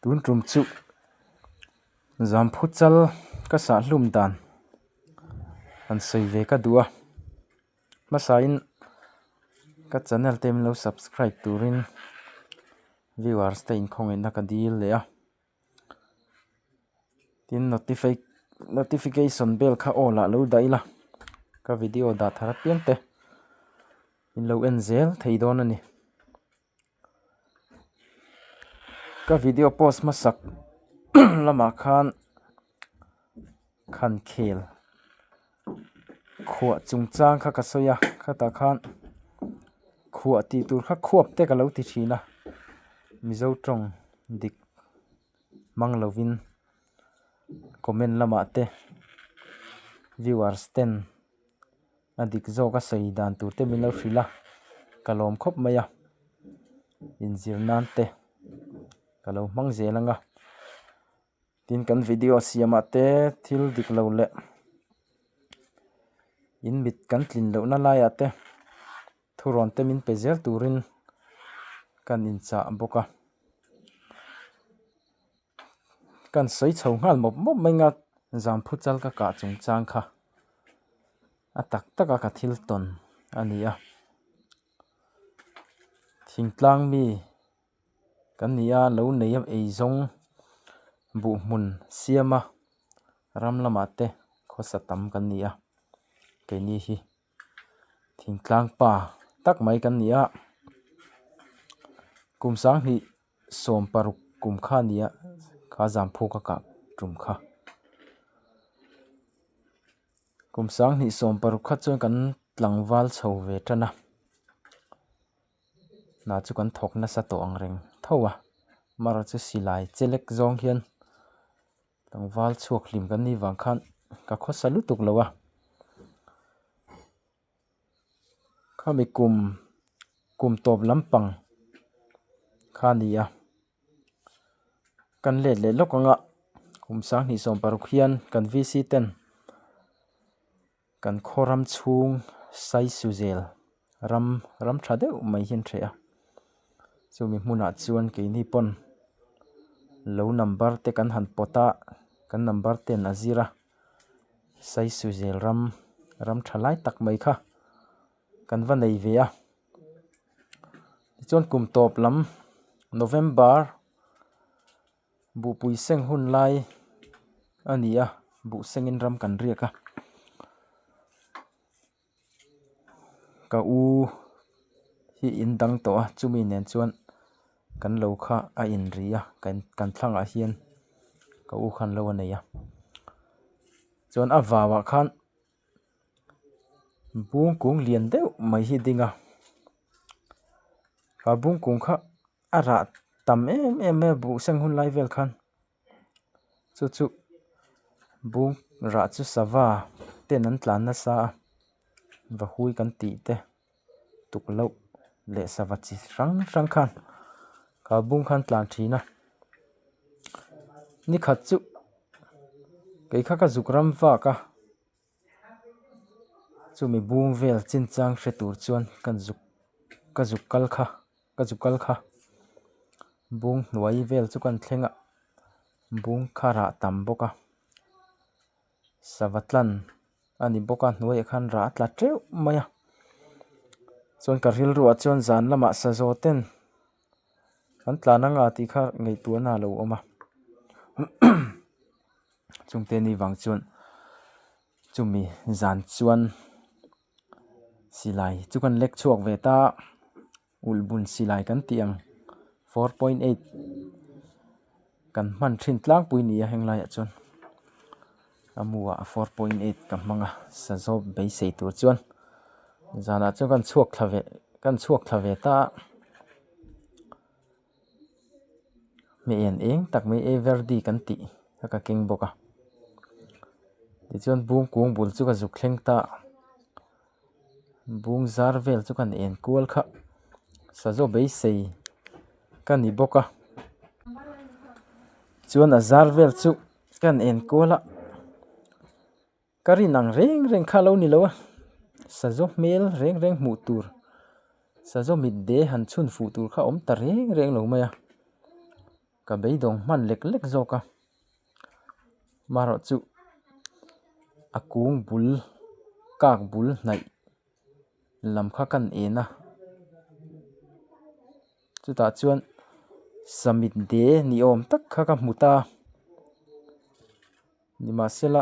tun tum chu zan phuchal ka sah hlum dan han sawi ve ka duh a hmasa in ka channel te min lo subscribe turin viewers te inkhawm na ka dil leh a tin notification bell kha on ah lo daih ila ka video dah thar apiang te in lo en zel thei dawn a ni. Ka video post hmasak lamah khan khankhel khuah chungchang kha ka sawi a khatah khan khuah tih tur kha khuap te ka lo ti thin a mizo tawng dik hmang lovin comment lamah te viewers ten a dik zawk a sawi dan tur te min lo hrilh a ka lawm khawp mai a in zir nan te ka lo hmang zel ang a tin kan video siam ah te thil dik lo leh in mit kan tlin loh na lai ah te thu rawn te min pe zel tur in kan in chah bawk a. Kan sawi chho nghal mawp mawp mai nga zamphu chal ka kah chung chang kha a tak tak a ka thil tawn a ni a. Thingtlang mi kan ni a lo nei a ei zawng buh hmun siam a ram lamah te khawsa tam kan ni a keini hi. Thingtlang pa tak mai kan ni a, kum sang hnih sawm paruk kum kha ni a, kha zamphuk a kah tum kha. Kum sang hnih sawm paruk kha chuan kan tlangval chho ve tan a, hna chu kan thawk nasa tawh ang reng tho a, Mara chu silai che lek zawng hian. Tlangval chhuak hlim kan ni vang khan ka khawsa lutuk lo a, khami kum kum tawp lampang kha ni a, kan let leh lawk ang a, kum sang hnih sawm paruk hian kan VC ten. Kan khuaram chhung saisu zel ram ram tha deuh mai hi an hreh a, chumi hmunah chuan keini pawn lo number te kan han pawt a, kan number ten a zir a, saisu zel ram ram tha lai tak mai kha kan va nei ve a, tichuan kum tawp lam November. Buhpui seng hun lai a ni a buh sengin ram kan riak a ka u hi in dang tawh a chumi nen chuan kan lo kha a in ri a kan kan thlang ah hian ka u khan lo a nei a chuan a vau ah khan-- bung kung lian deuh mai hi ding a a bung kung kha a rah tam em em mai a buh sang hun lai vel khan chu chu bung rah chu sava ten an tlan nasa a vahui kan tih te. tukloh leh sava chi hrang hrang khan ka bung khan tlan thin a ni khat chu kei kha ka zuk ram vak a chumi bung vel chin chang hre tur chuan ka zuk ka zuk kal kha ka zuk kal kha bung hnuai vel chu ka thleng a bung kharah tam bawk a. sava tlan a ni bawk a hnuai ah khan rah a tla teuh mai a chuan ka rilru ah chuan zan lamah sazaw ten an tlan anga tih kha ngaihtuahna a lo awm a chungte ni vang chuan chumi zan chuan silai chu kan lek chhuak ve ta. Ulh bun si lai kan tih ang. Four point eight kan hman thin tlangpui ni a heng laiah chuan a mu a four point eight ka hmang a sa zawk beisei tur chuan zanah chuan kan chhuak thla ve kan chhuak thla ve ta a hme en eng tak mai everdi kan tih a ka keng bawk a tichuan bung kung bul chu ka zuk thleng ta. bung zar vel chu kan en kual kha sazo beisei ka ni bawk a chuan a zar vel chu kan en kual a ka rin ang reng reng kha lo ni lo a sazo hmel reng reng hmuh tur sazo mitde han chhun fuh tur kha awm ta reng reng lo mai a. Ka beidawng hman lek lek zawk a, maherawh chu a kung bul kak bul hnaih lam kha kan en a, chutah chuan summit day ni awm tak kha ka hmu ta, nimahsela.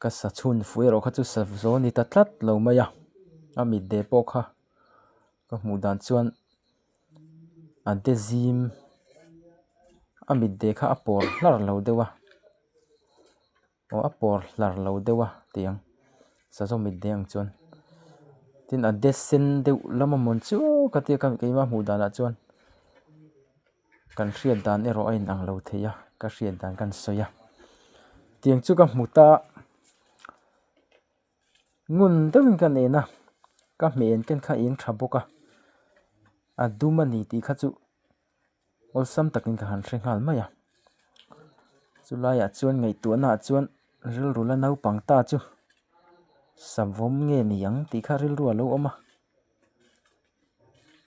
Ka sa chhun fuih erawh kha chu sa zawh a ni ta tlat lo mai a, a mitdeh pawh kha ka hmuh dan chuan a de zim a mitdeh kha a pawr hlar lo deuh a aw a pawr hlar lo deuh a tih ang sa zawh mitdeh ang chuan tin a de sen deuh lam a mawni chu ka tia ka keima hmuh danah chuan-- kan hriat dan erawh a inang lo thei a, ka hriat dan ka han sawi a. Tiang chu ka hmu ta, ngun deuhin ka nen a, ka hmeiin ka kha eng tha bawk a, a dum a ni tih kha chu awlsam takin ka han hre nghal mai a. Chulaiah chuan ngaihtuahnaah chuan rilru la naupang ta chu savawm nge ni ang tih kha rilru a lo awm a.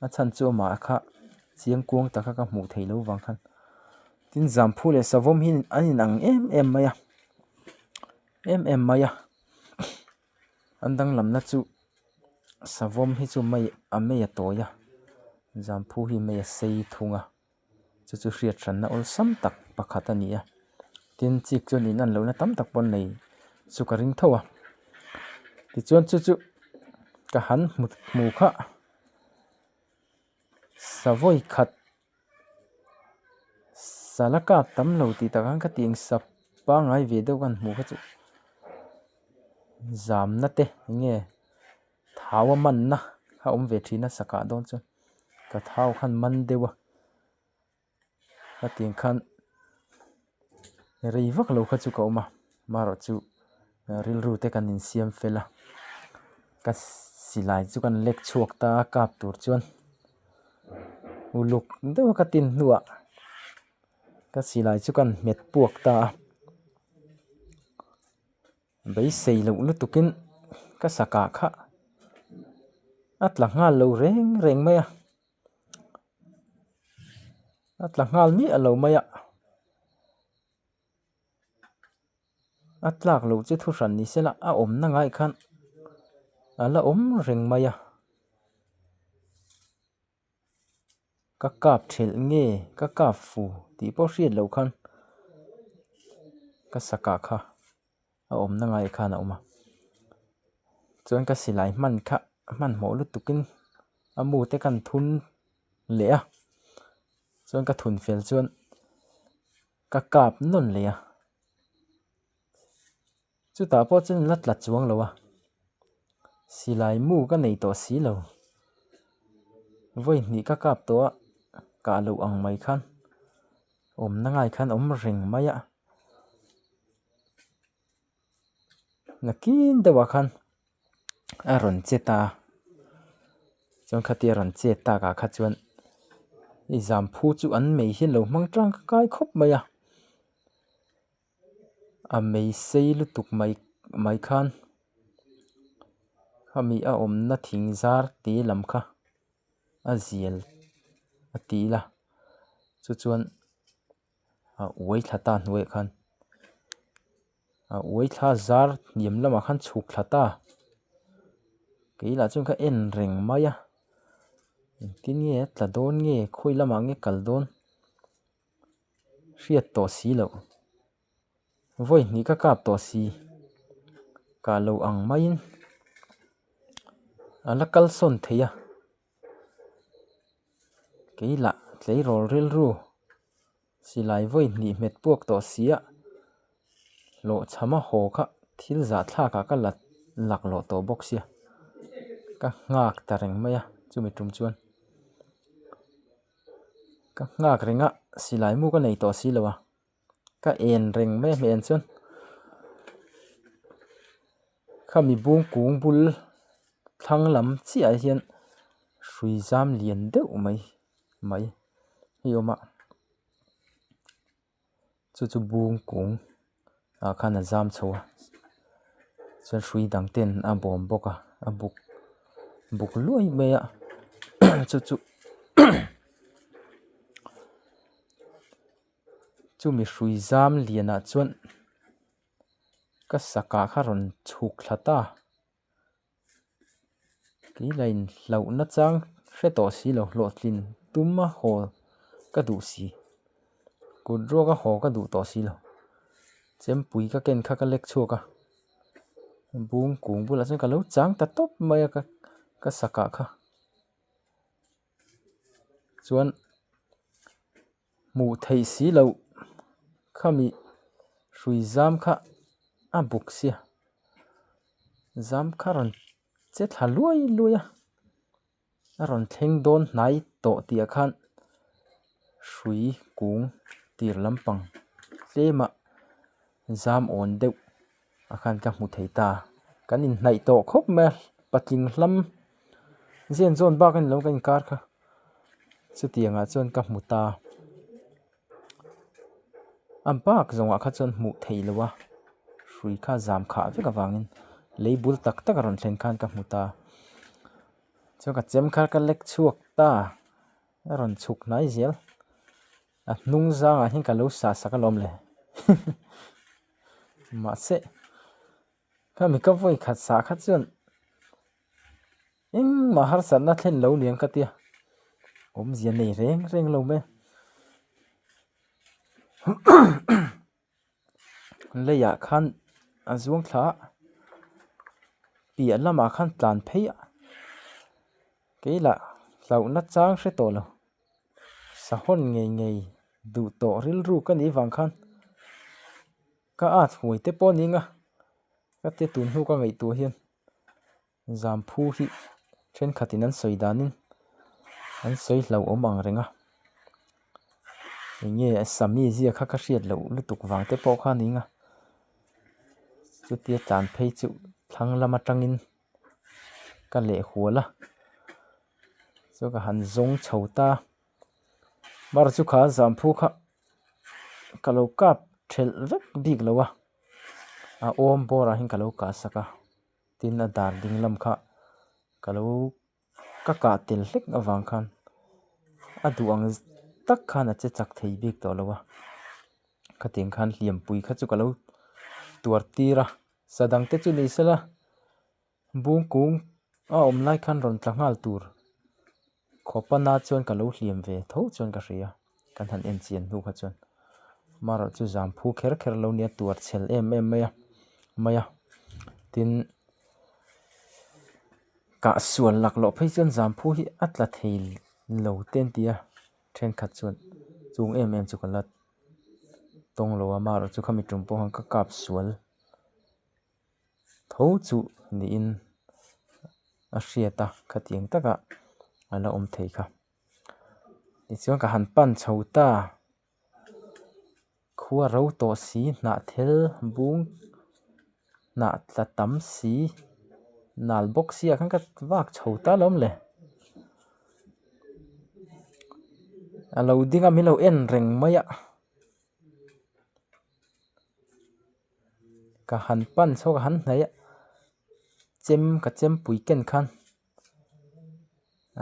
a chhan chu a mah kha chiang kuang tak kha ka hmuh theih loh vang khan tin zamphu leh savawm hi an in ang em em mai a em em mai a an danglam na chu savawm hi chu mai a mai a tawi a zamphu hi mai a sei thung a. chu chu hriathrana awlsam tak pakhat a ni a tin chik chuan in an lohna tam tak pawh nei chu ka ring tho a tichuan chu chu ka han hmu hmu kha savawi khat sala kap tam lo tih tak hian ka ti ang sa pangai ve deuh ka han hmu kha chu zamna te enge-- Thau a manna a awm ve thin a sakah dawn chuan ka thau khan man deuh a, hetiang khan rei vak lo kha chu ka awm a, marawh chu rilru te kan insiam fel a, ka silai chu kan lek chhuak ta a kap tur chuan uluk deuh ka tin hnuah ka silai chu kan hmet puak ta a. Beisei loh lutukin ka sakah kha a tla nghal lo reng reng mai a, a tla nghal miah lo mai a, a tlak loh chu thu hran ni se la a awmna ngaihkhan a la awm reng mai a. Ka kap ṭhelh nge ka kap fu tih pawh hriat loh khan ka sakah kha a awmna ngai khan a awm a, chuan ka silai hman kha hmanhmawh lutukin a mu te kan thun leh a, chuan ka thun fel chuan ka kap nawn leh a. Chutah pawh chuan in la tla chuang lo a, silai mu ka nei tawh si lo, vawihnih ka kap tawh a, kah loh ang mai khan awmna ngai khan awm reng mai a, nakin deuhah khan a rawn che ta a, chuan khatia rawn che tak ah kha chuan i zamphu chu an mei hian lo hmang tang ka kai khawp mai a. a meisei lutuk mai mai khan hemi a awmna thing zar te lam kha a zial a ti ila chu chuan a uai thla ta hnuai ah khan a uai thla zar hniam lamah khan chhuk thla ta kei lah chuan kha en reng mai a engtin nge tla dawn nge khawi lamah nge kal dawn. hriat tawh si loh, vawi hnih ka kap tawh si kah lo ang maiin a la kal sawn thei a, kei lah tleirawl rilru silai vawi hnih hmet puak tawh si ah hlawhchhama haw kha thil zahthlak ah ka la laklawh tawh bawk sia, ka nghak ta reng mai a chumi tum chuan. ka nghak reng a silai mu ka nei tawh si lo a ka en reng mai a hlian chuan khami bung kung bul thlang lam chiah ah hian hrui zam lian deuh mai mai hi awm a. chu chu bung kung ah khan a zam chho a chuan hrui dang ten a bawm bawk a a buk buk luai mai a chu chu chu mihrui zam lian ah chuan ka sakah kha rawn chhuk thla ta. Kei la in hlauh na chang hre tawh si lo hlawhtlin tum a haw ka duh si kut ruak a haw ka duh tawh si lo chempui ka ken kha ka lek chhuak a bung kung bulah chuan ka lo chang ta tawp mai a ka ka sakah kha chuan-- Hmuh theih si lo, khami hrui zam kha a buk sia. Zam kha rawn che thla luai luai a, a rawn thleng dawn hnai tawh tih ah khan hrui kung tir lampang tlem ah zam awn deuh a khan ka hmu thei ta kan in hnaih tawh khawp mai a patling hlam zen zawn bak in lo ka inkar kha chutiang ah chuan ka hmu ta a bak zawng ah kha chuan hmuh theih lo a hrui kha zam khah vek avang in lei bul tak tak a rawn thlen khan ka hmu ta chuan ka chem kha ka lek chhuak ta a rawn chhuk hnai zel. A hnung zangah hian ka lo sah sak alawm le mahse kha mi ka vawi khat sah kha chuan engmah harsatna thlen lo liam ka tia awmzia nei reng reng lo mai a Leiah khan a zuang thla a, piah lamah khan tlan phei a, kei lah hlauh na chang hre tawh lo, sahawn ngei ngei duh tawh rilru ka nih vang khan ka at huai te pawh a ning a, ka ti tun hnu ka ngaihtuah hian Zamphu hi thenkhatin an sawi danin an sawi hlauh awm ang reng a. Eng nge a sa mi zia kha ka hriat loh lutuk vang te pawh kha ning a. Chutia tlan phei chu thlang lam atangin ka leh hual a. Chu ka han zawng chho ta. Mar chu kha zamphu kha ka lo kap thelh vek bik lo a. A awm bawrah hian ka lo kah sak a. Tin a dan ding lam kha ka lo ka kah tel hlek avang khan a duh ang tak khan a che chak thei bik tawh lo a, khatiang khan hliampui kha chu ka lo tuar tir a, sadang te chu ni sela bungkung a awm lai khan rawn tla nghal tur. Khaw pan a chuan ka lo hliam ve tho chuan ka hria, kan han en chian hnu kha chuan Maroh chu zam phu kher kher lo nia tuar chhel em em mai a mai a tin kah sual lak loh phei chuan zam phu hi a tla thei lo te an tia thenkhat chuan chung em em chu ka la tawng lo a Maroh chu khami tum pawh han ka kap sual. tho chuh niin a hriat a khatiang takah a la awm thei kha tichuan ka han pan chho ta khua ro tawh si hnah thel bung hnah tla tam si nal bawk si ah khan ka vak chho ta hlawm le a lo ding a min lo en reng mai a. ka han pan chhuak a han hnaih a chem ka chem pui ken khan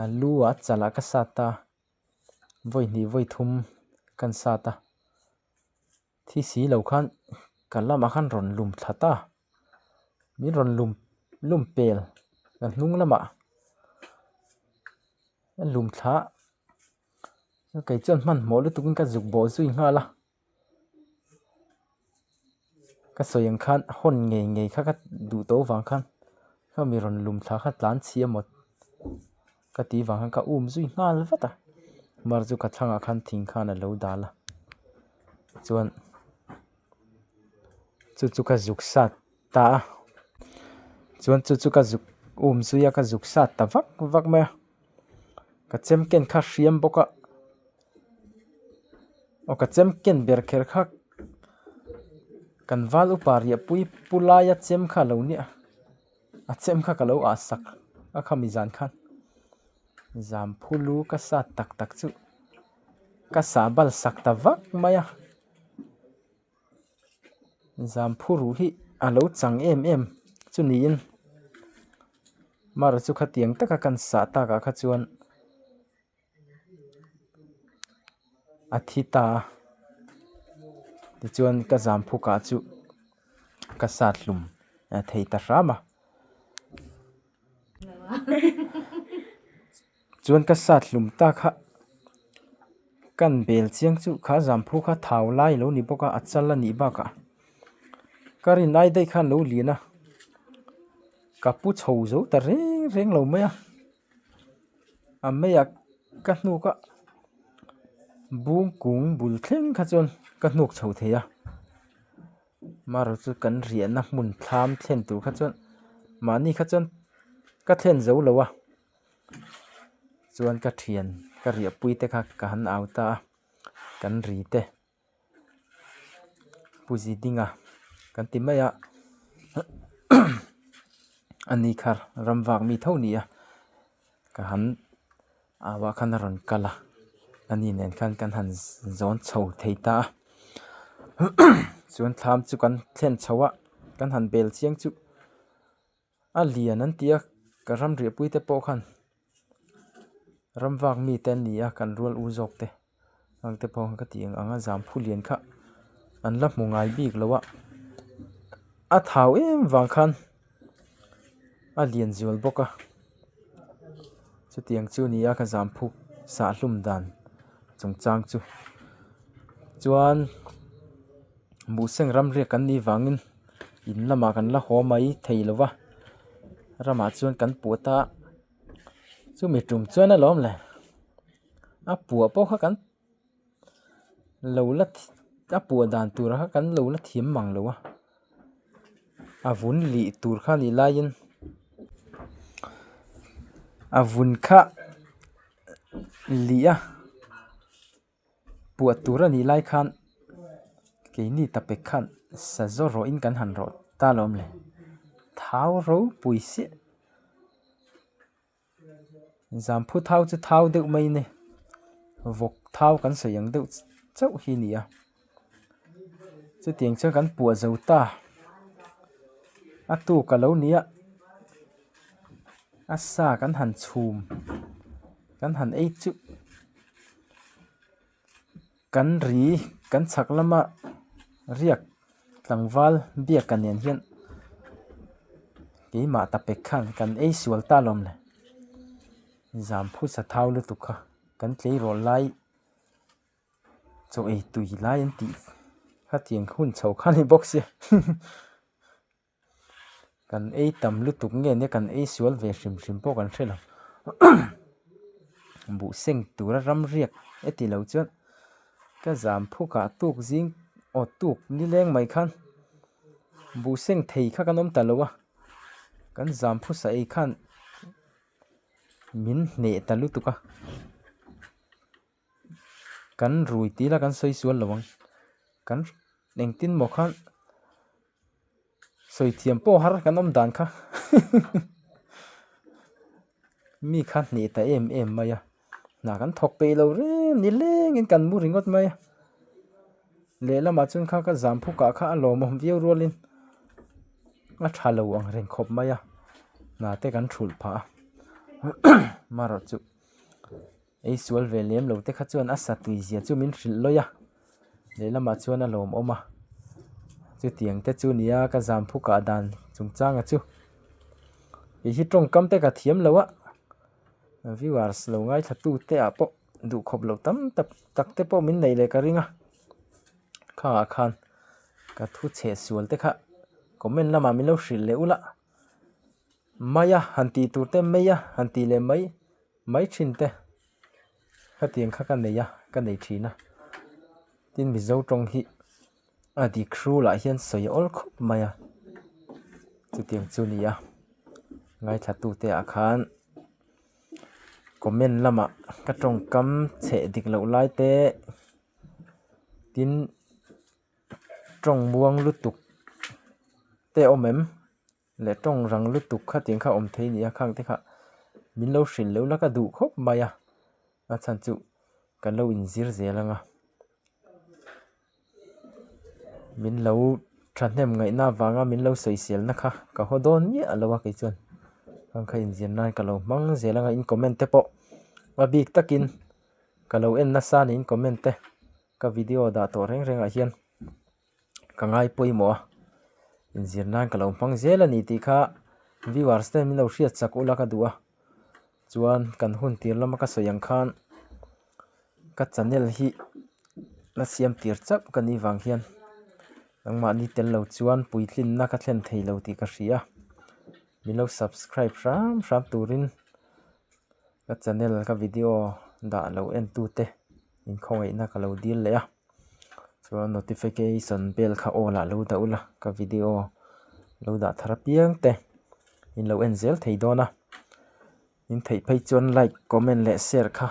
a lu ah chal ah ka sat ta vawi hnih vawi thum kan sat a thi si lo khan ka lam ah khan rawn lum thla ta min rawn lum lum pel ka hnung lam ah lum thla kei chuan hman hmawh lutuk in ka zuk bawh zui nghal a. ka sawi ang khan a hawn ngei ngei kha ka duh tawh vang khan kha mi rawn lum thla kha tlan chhia mawt ka tih vang khan ka um zui nghal vat a mar chu ka thlangah khan thing khan a lo dal a chuan chu chu ka zuk sat ta a chuan chu chu ka zuk um zui a ka zuk sat ta vak vak mai a ka chem ken kha a hriam bawk a. aw ka chem ken ber kher kha kan val upa riahpui pu laia chem kha a lo ni a a chem kha ka lo ah sak a kha mi zan khan zan phu lu ka sa tak tak chu ka sa bal sak ta vak mai a zan phu ru hi a lo chang em em chu niin mar chu khatiang taka kan sah takah kha chuan. a thi ta a tichuan ka zam phuk ah chu ka sat hlum a thei ta hram a chuan ka sat hlum ta kha kan bel chiang chu kha zam phuk kha thau lai a lo ni bawk a a chal a nih bakah ka rin ai daih kha an lo lian a ka pu chho zo ta reng reng lo mai a. A meiah ka hnuk a bung kung bul thleng kha chuan ka hnuk chho thei a maruchu kan riahna hmun thlam thlen tur kha chuan mahni kha chuan ka thlen zo lo a chuan ka thian ka riahpui te kha ka han auta a kan ri te. Pu Zidinga kan ti mai a ani khar ram vak mi tho nia ka han au a khan a rawn kal a ani nen khan kan han zawn chho thei ta a chuan thlam chu kan thlen chho a kan han bel chiang chu. A lian an tia ka ram riahpui te pawh khan ram vak mi te an ni a kan rual u zawk te ang te pawh ka ti ang ang a zam phu lian kha an la hmu ngai bik lo a a thau em vang khan a lian zual bawk a chutiang chu ni a ka zam phu sah hlum dan chungchang chu chuan-- Buseng ram riak kan nih vangin in lamah kan la haw mai thei lo va ramah chuan kan puat a chumi tum chuan a lawm leh a puah pawh kha kan lo la a puah dan tur kha kan lo la thiam mang lo a a vun lih tur kha nih laiin a vun kha lih a. Puah tur a nih lai khan keini ta pek khan sa zawr rawh in kan han rawh ta lawm le. Thau ropui siah. Zamphu thau chu thau deuh mai nge. Vawk thau kan sawi ang deuh chauh hi a nia. chutiang chuan kan puah zo ta a tuk a lo ni ah a sa kan han chhum kan han ei chuh kan ri kan chhak lama riak tlangval biak a nen hian keimah ta pek khan kan ei sual ta lawm le zan phusa thau lutuk kha kan tleirawl lai-- Chaw ei tui lai an tih khatiang ka hun chho khan hi bawk si kan ei tam lutuk nge nia kan ei sual ve hrim hrim pawh kan hrelo buh seng tura ram riak e ti lo chuan ka zam phuk ah tuk zing aw tuk ni leng mai khan buh seng thei kha kan awm ta lo a kan zam phusa ei khan min hneh ta lutuk a. kan rui tila kan sawi sual lo ang kan engtin maw kha sawi thiam pawh har kan awm dan kha mi kha hneh ta em em mai a hna kan thawk peih lo reng ni lengin kan mu ringawt mai a lehlamah chuan kha ka zam phukah kha a lawmawm viau rualin a tha lo ang reng khawp mai a hna te kan hrulh phah a amaherawhchu. Ei sual ve lem lo te kha chuan a satui zia chu min hrilh lawih a, lehlamah chuan a lawm awm a, chutiang te chu nia ka zam phukah dan chung changa chu kei hi tawngkam te ka thiam lo a, viewers lo ngaithla tute ah pawh duh khawp loh tam tak tak te pawh min neih leh ka ring a, khangah khan ka thu chhe sual te kha comment lamah min lo hrilh leh ulh a, maia han tih tur te maia han tih leh mai. Mai thin te khatiang kha ka nei a, ka nei thin a. Tin Mizo tawng hi a dikhrû lah hian sawi awl khawp mai a, chutiang chu ni a. Ngaithlattu te ah khan comment lamah ka tawngkam chhe dik loh lai te, tin tawngmuang lutuk te awm em? leh tawng rang lutuk kha tiang kha awm thei nia khang te kha min lo hrilh loh la ka duh khawp mai a a chhan chu kan lo in zir zel anga min lo thahnem ngaih na vang a min lo sawi sel na kha ka haw dawn miah a lo a kei chuan khang kha in zir nan ka lo hmang zel anga in comment te pawh hma bik tak in ka lo en nasa nen comment te ka video dah tawh reng reng ah hian. ka ngai pawimawh a, inzir nan ka lo hmang zel a ni tih kha viewers ten min lo hriat chak ula ka duh a, chuan kan hun tir lama ka sawi ang khan ka channel hi la siam tir chauh ka nih vang hian nangmah ni tel lo chuan puitling na ka thlen thei lo tih ka hria a, min lo subscribe hram hram turin ka channel ka video dah lo en tute. inkhawngaihtna ka lo dil leh a chuan notification bell kha all ah lo dah ula ka video lo dah thar apiang te in lo en zel thei dawn a in theih phei chuan like comment leh share kha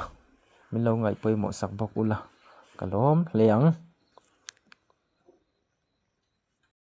min lo ngaih pawimawh sak bawk ula ka lawm hle ang.